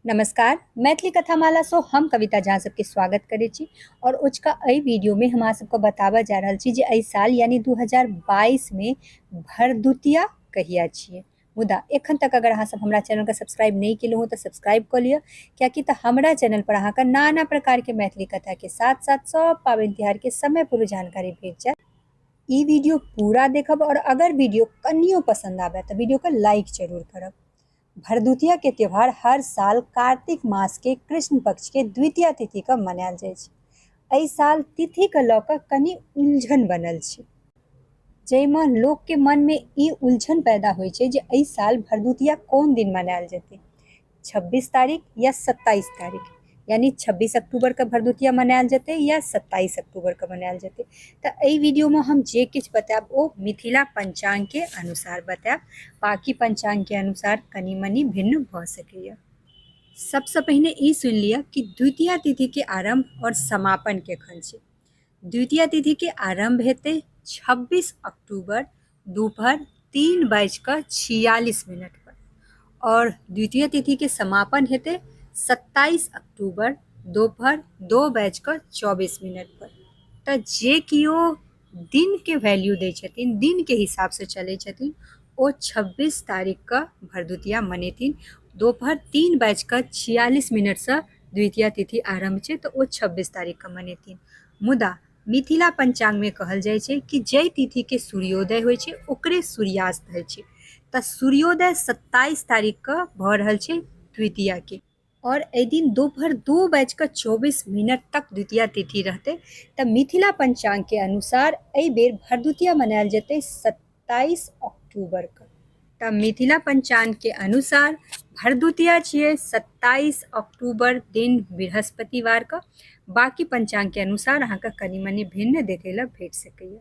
नमस्कार मैथिली कथामाला सो हम कविता झा सबके स्वागत करे छी और उचका अई वीडियो में हम सबको बताबा जा रहल छी जे अई साल यानी 2022 में भरदुतिया कहिया छिए मुदा एखन तक अगर अहाँ सब हमरा चैनल के सब्सक्राइब नहीं केलहुँ हँ तऽ सब्सक्राइब कऽ लिअ कियाकि तऽ हमरा चैनल पर अहाँके नाना प्रकार के मैथिली कथा के साथ साथ सब पाबनि तिहार के समय पूर्व जानकारी भेट जायत ई वीडियो पूरा देखब और अगर वीडियो कनियो पसंद आबे तऽ वीडियो के लाइक जरूर करब भरदुतिया के त्योहार हर साल कार्तिक मास के कृष्ण पक्ष के द्वितीय तिथि के मनायल जाय छै। एहि साल तिथि के लऽ कऽ कनी उलझन बनल छै। जइ मे लोक के मन मे ई उलझन पैदा होय छै जे एहि साल भरदुतिया कोन दिन मनायल जेतै, छब्बीस तारीख या सत्ताइस तारीख। यानि छब्बीस अक्टूबर के भरदुतिया मनायल जेतै या सत्ताइस अक्टूबर के मनायल जेतै तऽ एहि वीडियो मे हम जे किछु बतायब ओ मिथिला पंचांग के अनुसार बतायब बाकी पंचांग के अनुसार कनि मनि भिन्न भऽ सकैया सबसँ पहिने ई सुनि लिअ कि द्वितीय तिथि के आरंभ आओर समापन केखन छै द्वितीय तिथि के आरंभ हेतै छब्बीस अक्टूबर दुपहर तीन बाजि कऽ छियालिस मिनट पर आओर द्वितीय तिथि के समापन हेतै सत्ताइस अक्टूबर दोपहर दो बाजि कऽ चौबीस मिनट पर तऽ जे किओ दिन के वैल्यू दै छथिन दिन के हिसाब से चलै छथिन ओ छब्बीस तारीख कऽ भरदुतिया मनेथिन दोपहर तीन बाजि कऽ छियालिस मिनट सँ द्वितीय तिथि आरम्भ छै तऽ ओ छब्बीस तारीख कऽ मनेथिन मुदा मिथिला पञ्चाङ्ग मे कहल जाइ छै कि जाहि तिथि के सूर्योदय होइ छै ओकरे सूर्यास्त होइ छै तऽ सूर्योदय सत्ताइस तारीख के भऽ रहल छै द्वितीया के आओर एहि दिन दुपहर दू बाजि कऽ चौबीस मिनट तक द्वितीया तिथि रहतै तऽ मिथिला पञ्चाङ्ग के अनुसार एहि बेर भरदुतिया मनायल जेतै सत तेइस अक्टूबर के तऽ मिथिला पंचांग के अनुसार भरदुतिया छियै सत्ताईस अक्टूबर दिन बृहस्पतिवार के बाकी पंचांग के अनुसार अहाँके कनि मनि भिन्न देखै लए भेट सकैए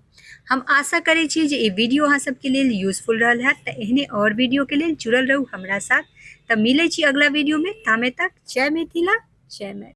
हम आशा करै छी जे ई वीडियो अहाँ सबके लेल यूजफुल रहल हैत तऽ एहने और वीडियो के लेल जुड़ल रहू हमरा साथ तऽ मिलै छी अगला वीडियो में तामे तक जय मिथिला जय मैथिली